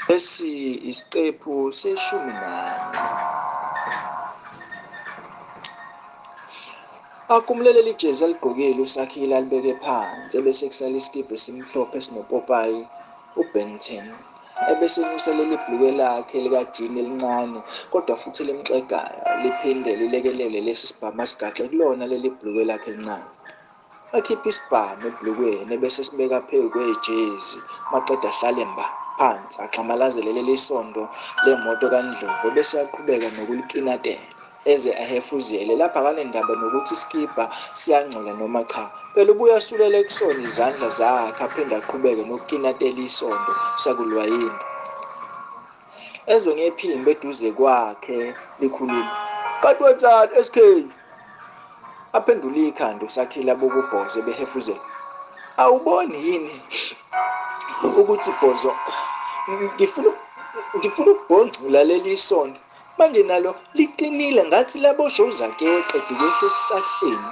Lesi isiqephu seshumi nane. Akumleleli ijezi aligqokile uSakhile alibeke phansi ebese kusala isikibha esimhlophe esinopopayi uBenton ebese enyuselela ibhulukwe lakhe likajini elincane kodwa futhi elimxegayo liphinde lilekelele lesi sibhamu asigaxe kulona leli bhulukwe lakhe elincane. Akhiphe isibhamu ebhlukweni ebese sibeka phezu kwejezi maqeda ahlale mba phansi axhamalazele leli sondo lemoto kaNdlovu ebese aqhubeka nokulikinatela eze ahefuzele lapha akanendaba nokuthi isikibha siyangcola noma cha phela ubuye asulele kusona izandla zakhe aphinde aqhubeke nokukinatela isondo sakulwayini Ezwe ngephimbo eduze kwakhe likhuluma. Kanti wenzani SK? Aphendula ikhanda uSakhile abokubhoze behefuzela. Awuboni yini ukuthi bhozo ngifuna ngifuna ukubhongcula leli sonto manje nalo liqinile ngathi labosho uzakewe qeda ukwehla esihlahleni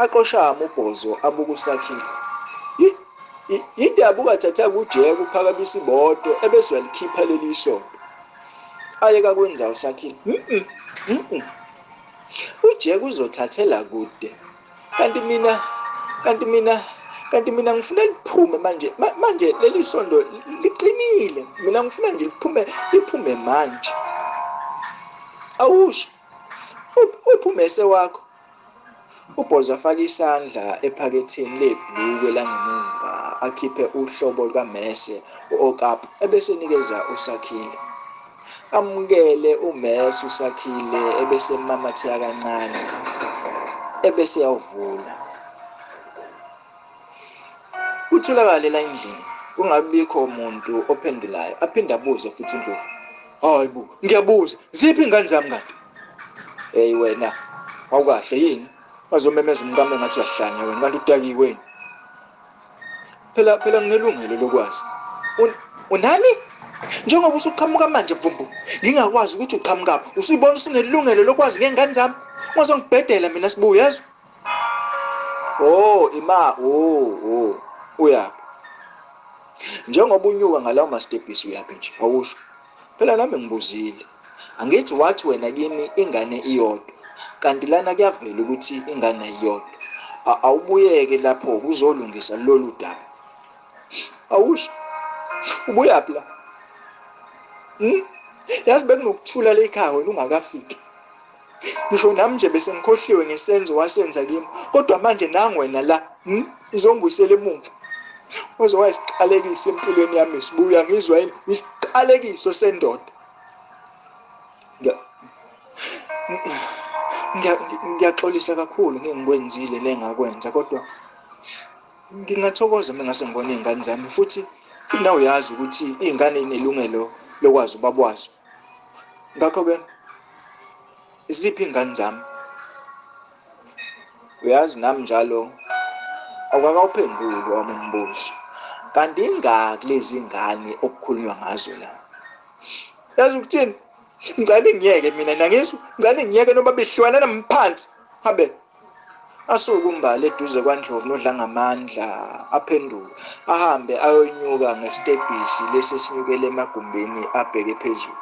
aqoshama ubhozo abukusakhile Indaba ungathatha kuJeya kuphakamisa imoto ebese uyalikhipha leli isondo. Ayeka kwenza usakhile. Mhm. Mhm. UJeya uzothathela kude. Kanti mina kanti mina kanti mina ngifuna liphume manje manje leli sondo liqinile mina ngifuna nje liphume liphume manje awusho uphume sewakho UBoza afake isandla ephaketheni lebhulukwe langemumva akhiphe uhlobo lukamese u-Okap ebese enikeza uSakhile. Amukele umese uSakhile ebese emamatheka kancane ebese yawuvula. Kutholakale la endlini kungabikho muntu ophendulayo aphinde abuze futhi indlovu. hayi bo ngiyabuza ziphi ingane zami kanti hey wena awukahle yini bazomemeza umkami ngathi uyahlanya wena kanti udakiwe yini phela phela nginelungelo lokwazi unani njengoba usuqhamuka manje bvumbu ngingakwazi ukuthi uqhamukaphi usuyibona usunelungelo lokwazi ngengane zami ungazongibhedela mina sibuya yezwa Oh ima oh oh uyaphi njengoba unyuka ngalawo mastebhisi uyaphi nje awusho phela nami ngibuzile angithi wathi wena kimi ingane iyodwa kanti lana kuyavela ukuthi ingane iyodwa awubuyeke lapho kuzolungisa lolu daba awusho ubuyaphi la hmm? yazi bekunokuthula lekhaya wena ungakafiki ngisho nami nje bese ngikhohliwe ngesenzo wasenza kimi kodwa manje nangu wena la hmm? uzongibuyisela emumva uze wayisiqalekiso empilweni yami sibuya ngizwa yini isiqalekiso sendoda ngiyaxolisa kakhulu ngengikwenzile nengakwenza kodwa ngingathokoza uma ngase ngibona iy'ngane zami futhi futhi nawe uyazi ukuthi iy'ngane inelungelo lokwazi ubaba wazo ngakho-ke Isiphi ingane zami? Uyazi nami njalo awukakawuphenduli wami umbuzo. Kanti ingaki lezi ngane okukhulunywa ngazo la? Yazi ukuthini? Ngicela ngiyeke mina nangizwa, ngicela ngiyeke noma bihlwana namphansi. Habe. Asuke uMbali eduze kwaNdlovu noDlangamandla aphenduke ahambe ayonyuka ngesitebhisi lesi esinyukela emagumbini abheke phezulu.